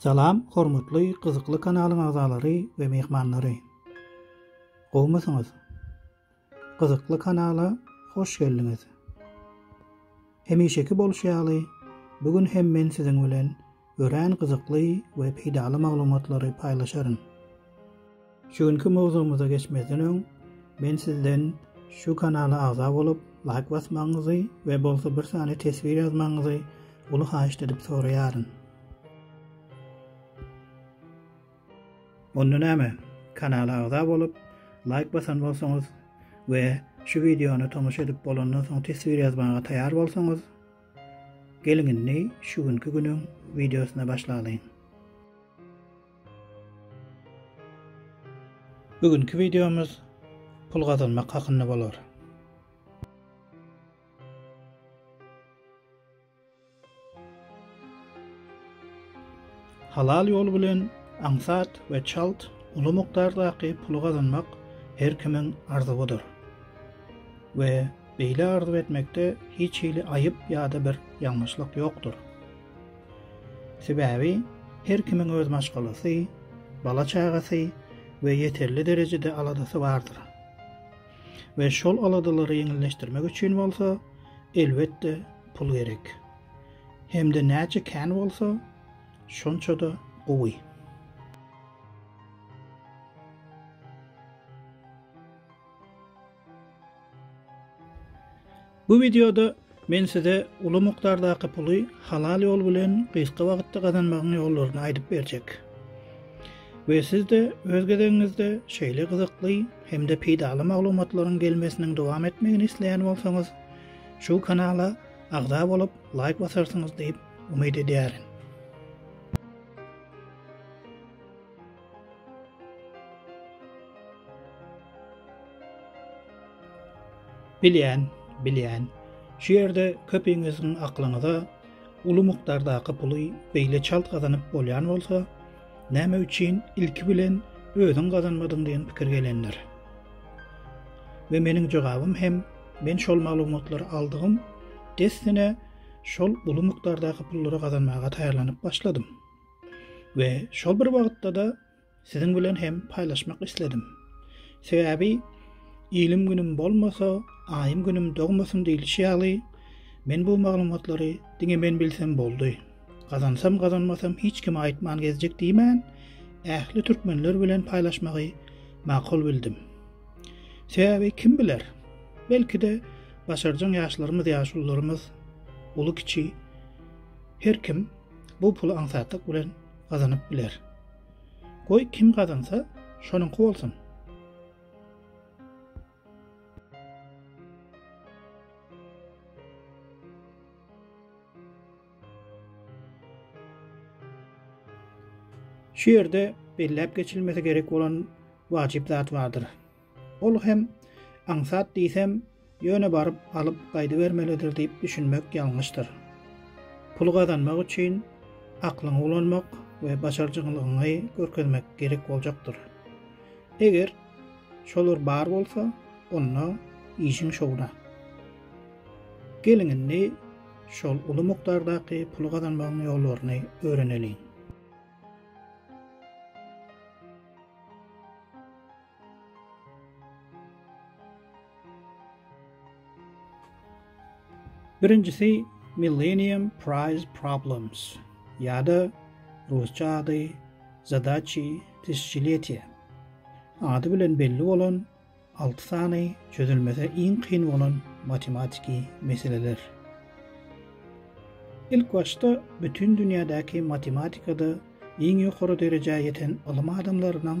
Salam hormatly gyzykly kanalyň agzalary we myhmanlary. Gowmysyňyz? Gyzykly kanala hoş geldiňiz. Hemişeki bolşy ýaly bu gün hem men siziň bilen örän gyzykly we peýdaly maglumatlary paýlaşaryn. Şu günki mowzugymyza geçmezden öň men sizden şu kanala agza bolup laýk basmagyňyzy we bolsa bir sany teswir ýazmagyňyzy uly haýyşt edip soraýaryn. Onda näme, kanala agza bolup laýk basan bolsaňyz we şu wideony tomaşa edip bolandan soň teswir ýazmaga taýar bolsaňyz, geliň indi şu günki günüň wideosyna başlalyň. Bu günki wideomyz pul gazanmak hakynda bolar. Halal ýol bilen aňsat we çalt uly mukdardaky puly gazanmak her kimiň arzuwydyr. We beýle arzuw etmekde hiç hili aýyp ýa-da bir ýalňyşlyk ýokdur. Sebäbi her kimiň öz maşgalasy, bala-çagasy we ýeterli derejede aladasy bardyr. We şol aladalary ýeňilleşdirmek üçin bolsa, elbetde, pul gerek. Hem-de näçe kän bolsa, şonça-da gowy. Bu wideoda men size uly mukdardaky puly halal ýol bilen gysga wagtda gazanmagyň ýollaryny aýdyp berjek. We siz-de öz gezegiňizde şeýle gyzykly hem-de peýdaly maglumatlaryň gelmesiniň dowam etmegini isleýän bolsaňyz, şu kanala agza bolup, laýk basarsyňyz diýip umyt edýärin. Bilýän, bilýän. Şu ýerde köpiňiziň aklyňyza uly mukdardaky puly beýle çalt gazanyp bolýan bolsa, näme üçin ilki bilen özüň gazanmadyň diýen pikir gelendir. We meniň jogabym hem men şol maglumatlary aldygym dessine şol uly mukdardaky pullary gazanmaga taýýarlanyp başladym. we şol bir wagtda-da siziň bilen hem paýlaşmak isledim. Sebäbi Ilim günüm bolmasa, aýym günüm dogmasyn diýlişi ýaly, men bu maglumatlary diňe men bilsem boldy. Gazansam gazanmasam hiç kime aýtman gezjek diýmän, ähli türkmenler bilen paýlaşmagy makul bildim. Sebäbi kim biler? Belki-de başarjaň ýaşlarymyz, ýaşulularymyz, uly-kiçi her kim bu puly aňsatlyk bilen gazanyp biler. Goý kim gazansa, şonuňky bolsun. Şu ýerde belläp geçilmesi gerek bolan wajyp zat bardyr. Ol hem, Aňsat diýsem, ýöne baryp alyp gaýdybermelidir diýip düşünmek ýalňyşdyr. Pul gazanmak üçin aklyňy ulanmak we başarjyňlygyňy görkezmek gerek boljakdyr. Eger şolar bar bolsa, onda işiň şowuna. Geliň indi şol uly mukdardaky pul gazanmagyň ýollaryny öwreneliň. Birinjisi Millennium Prize Problems ýa-da rusça ady Zadachi Tysyçletia ady bilen belli bolan alty sany çözülmesi iň kyn bolan matematiki meseleler. Ilk başda bütin dünýädäki matematikada iň ýokary derejä ýeten ylym adamlarynyň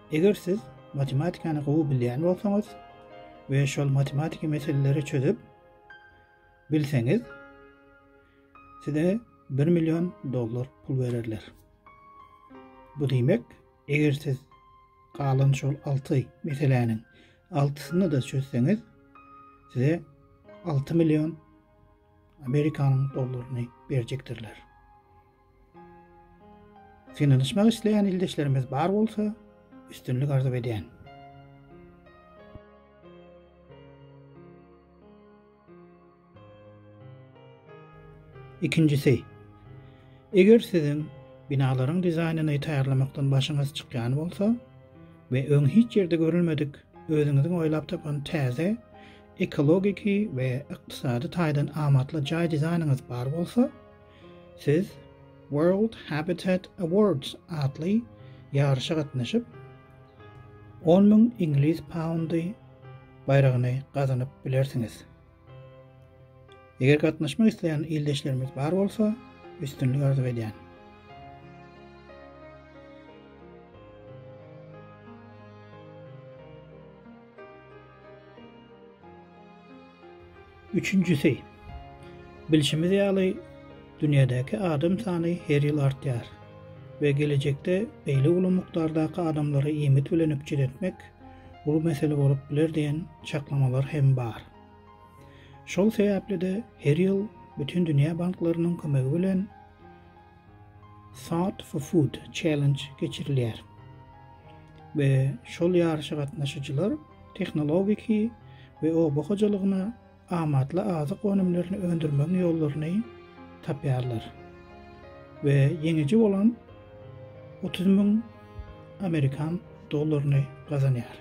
Eger siz matematikany gowy bilýän bolsaňyz we şol matematiki meseleleri çözüp bilseňiz, size 1 million dollar pul bererler. Bu diýmek, eger siz galan şol 6 meseläniň altysyny da çözseňiz, size 6 million Amerikanyň dollaryny berjekdirler. Synanyşmak isleýän ildeşlerimiz bar bolsa, üstünlik arzuw edýän. Ikinjisi, eger siziň binalaryň dizaýnyny taýýarlamakdan başyňyz çykýan bolsa we öň hiç ýerde görülmedik özüňiziň oýlap tapan täze ekologiki we ykdysady taýdan amatly jaý dizaýnyňyz bar bolsa, Siz World Habitat Awards atly ýaryşa gatnaşyp, on müň iňlis poundy baýragyny gazanyp bilersiňiz. Eger gatnaşmak isleýän ildeşlerimiz bar bolsa, üstünlik arzuw edýän. Üçünjisi, bilşimiz ýaly, dünýädäki adam sany her ýyl artýar we gelejekde beýle uly mukdardaky adamlary iýmit bilen üpjün etmek uly mesele bolup biler diýen çaklamalar hem bar. Şol sebäpli-de her ýyl Bütindünýä banklarynyň kömegi bilen, Thought for Food Challenge geçirilýär we şol ýaryşa gatnaşyjylar tehnologiki we oba hojalygyna amatly azyk önümlerini öndürmegiň ýollaryny tapýarlar we ýeňiji bolan otuz müň amerikan dollaryny gazanýar.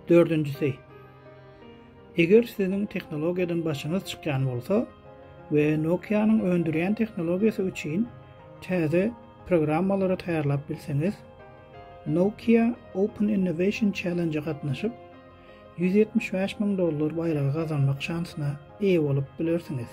Dördünjisi, eger siziň tehnologiýadan başyňyz çykýan bolsa we Nokia-nyň öndürýän tehnologiýasy üçin täze programmalary taýýarlap bilseňiz, Nokia Open Innovation Challenge-e gatnaşyp, ýüz ýetmiş bäş müň dollar baýragy gazanmak şansyna eýe bolup bilersiňiz.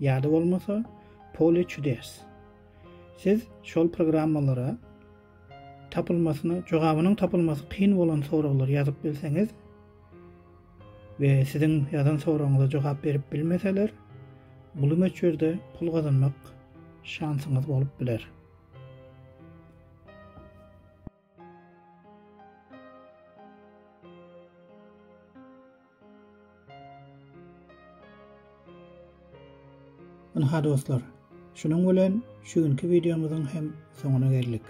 Ýa-da bolmasa Pole çudes. Siz şol programmalara tapylmasyna, jogabynyň tapylmasy kyn bolan soraglary ýazyp bilseňiz we siziň ýazan soragyňyza jogap berip bilmeseler, uly möçberde pul gazanmak şansyňyz bolup biler. Ynha dostlar, şunuň bilen şu günki wideomyzyň hem soňuna geldik.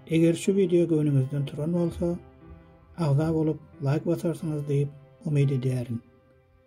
Eger şu wideo göwnüňizden turan bolsa, agza bolup, laýk basarsyňyz diýip umyt edýärin.